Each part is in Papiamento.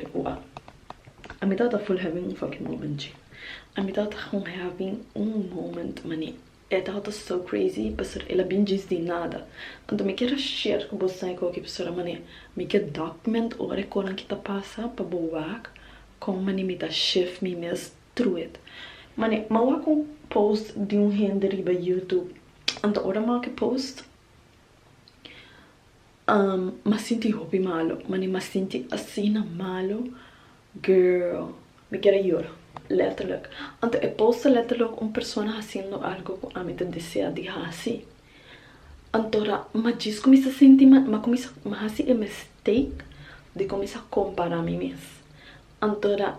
E ku a. A mi tata ful having un fucking moment chi. A mi tata gong having un moment mane e tata so crazy pasobra el a bin djis di nada. Anto mi kier a share ku bo sai koki pasobra mane mi kier document ora e konan ki ta pasa pa bo wak kon mane mi ta shift mi mes through it. Mane mi a wak un post di un hende riba YouTube anto ora mi a wak e post. M'a sinti hopi malo, mane m'a sinti asina malo, girl, mi kere yora, letterlijk. Anto e poster letterlijk un persona haciendo algo cu ami ta desea di haci. Anto ra m'a djis cuminsa sinti mal, m'a cuminsa, m'a haci e mistake di cuminsa compara mi mes. Anto ra.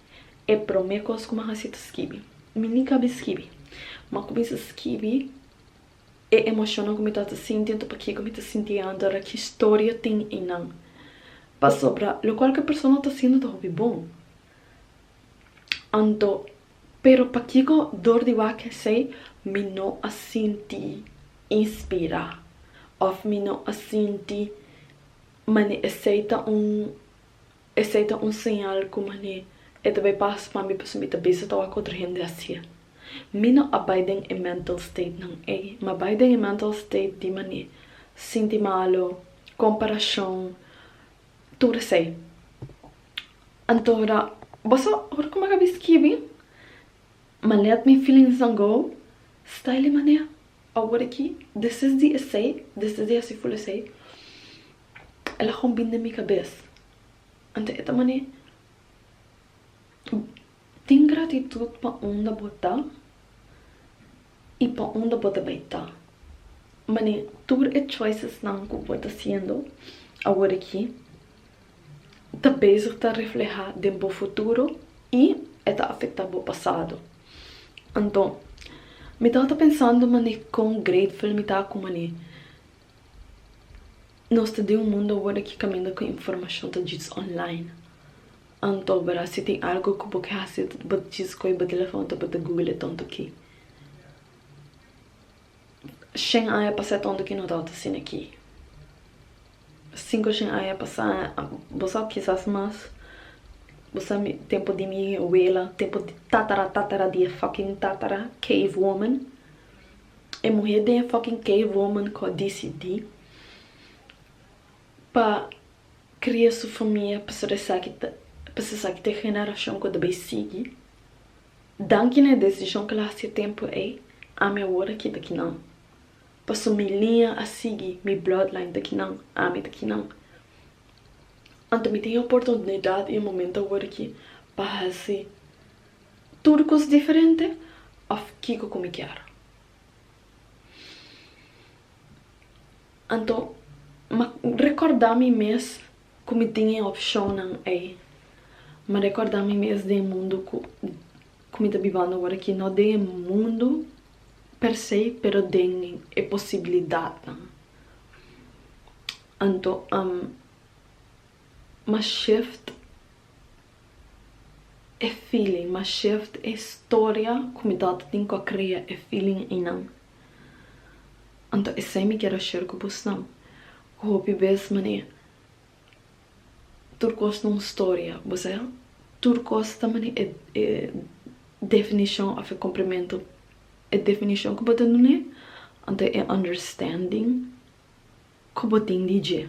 E promé kos ku mi a hasi ta skibi. Mi nika bin skibi, mi a kuminsá skibi e emoshonnan ku mi tabata sinti anto pakiko ku mi ta sinti anta ra ki storia tin einan. Pasobra lokual ku e persona ta hasindu ta hopi bon. Anto, pero pakiko dor di wak esei mi no a sinti inspirá òf mi no a sinti mane esei ta un Esei ta un señal ku manera e ta bai pas pambi pasobra mi ta bisa ta wak otro hende haci'e. Mi no a bai den e mental state nan ei, m'a bai den e mental state di manera sinti malu, comparacion, tur esei. Antora bo sa ora ku mi a kabi skibi, m'a let mi feelingsnan go, stayle manera awor aki, desisdi esei, desisdi haci ful esei. El a hombin den mi kabes. Anto e ta manera. Tin gratitut pa unda bo ta i pa unda bo ta bai ta. Manera tur e choicesnan ku bo ta siendo awor aki ta bezig ta reflehá den bo futuro i e ta afektá bo pasado. Anto mi tabata pensando manera kon greitful mi ta ku manera Nos ta den un mundu awor aki kaminda ku informashon ta djis onlain. Anto obra si tin algu ku bo ke hasi bo ta djis koi bo telefon ta bo ta guglia tonto ki. Shen aña pasá tonto ki no tabata asina aki. Sinku shen aña pasá bo sa kisas mas bo sa mi tempu di mi awela tempu di tatara tatara di e fòkint tatara cave woman E muhe den fucking cave woman cu a dicidi pa cria su famia pasobra esaki ta pasobra esaki ta e generacion cu ta bay sigui. Danki na e decision cu el a haci e tempo ey, ami awor a kita ki nan. Pasobra mi liña a sigui, mi bloodline ta ki nan, ami ta ki nan. Anto mi tin e oportunidad y e momento awor aki pa haci. Tur cos diferente of kico cu mi kier. Anto ma recorda mi mes cu mi tin e opcionnan ey. Ma recorda mi mes den e mundo cu cu mi ta bibando awor aki, no den e mundo per se pero den e posibilidadnan. Anto am. Ma shift e feeling, ma shift e storia ku mi tate tin ku a krea e feeling einan. Anto esei mi kier a share ku bosnan, ku hopi bes manera tur kos ta un storia, bo sa ya, tur kos ta manera e definishon òf e komprimentu, e definishon ku bo ta dun'é, anto e understanding ku bo tin di dje.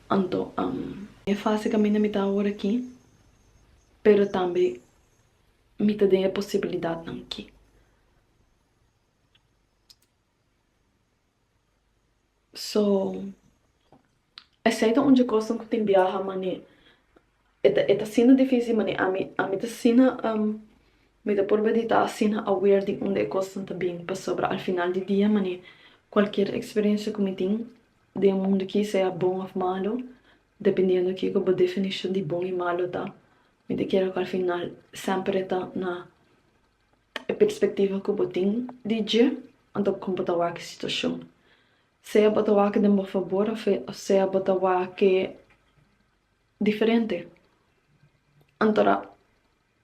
Anto, am. E fase kaminda mi ta awor aki, pero tambe mi ta den e posibilidatnan ki. So, esei ta un dje kosnan ku tin biaha, manera E ta e ta asina difísil manera ami ami ta asina mi ta por meditá asina aware di unda e kosnan ta bini pasobra al final di dia manera kualkier eksperensia ku mi tin den e mundu aki sea bon òf malu dependiendo kiko bo definishon di bon i malu ta mi ta kere ku al final semper e ta na e perspektiva ku bo tin di dje anto kon bo ta wak e situashon sea bo ta wak den bo fabor òf sea bo ta wak. diferente. Antora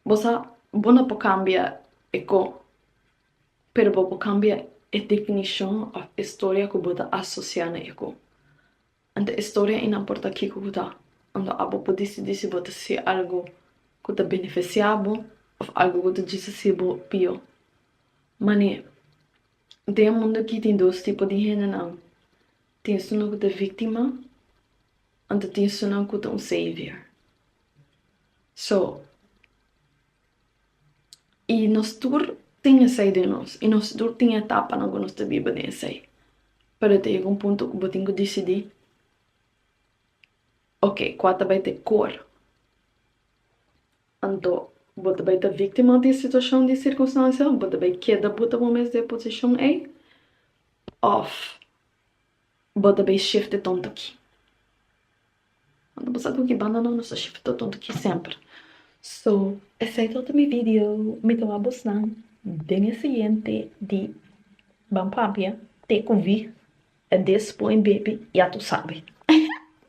bo sa bo no por cambia e co, pero bo por cambia e definicion of e storia cu bo ta asocia na e co. Anto e storia y no importa kico cu ta, anto abo por dicidi si bo ta haci algo cu ta beneficia bo of algo cu ta djisa haci bo pio. Mane, den e mundo aki tin dos tipo di hendenan, tin esun lo cu ta victima Anto tin sunan ku ta un Savior. So, i nos tur tin esei den nos, i nos tur tin e etapanan ku nos ta biba den esei. Pero ta yega un punto ku bo tin ku disidí, Oke, kua ta bai ta e kor? Anto bo ta bai ta víktima di e situashon, di e sirkunstansia? Bo ta bai keda buta bo mes den e posishon ei? Òf. Bo ta bay shifte tonto aki. Bo sa cu ki banda no nos ta shifte tonto aki semper. So esey todo mi video. Mi ta wak bos nan den e siguiente di Ban Papia te cu vi e despoy baby ya tu sabe.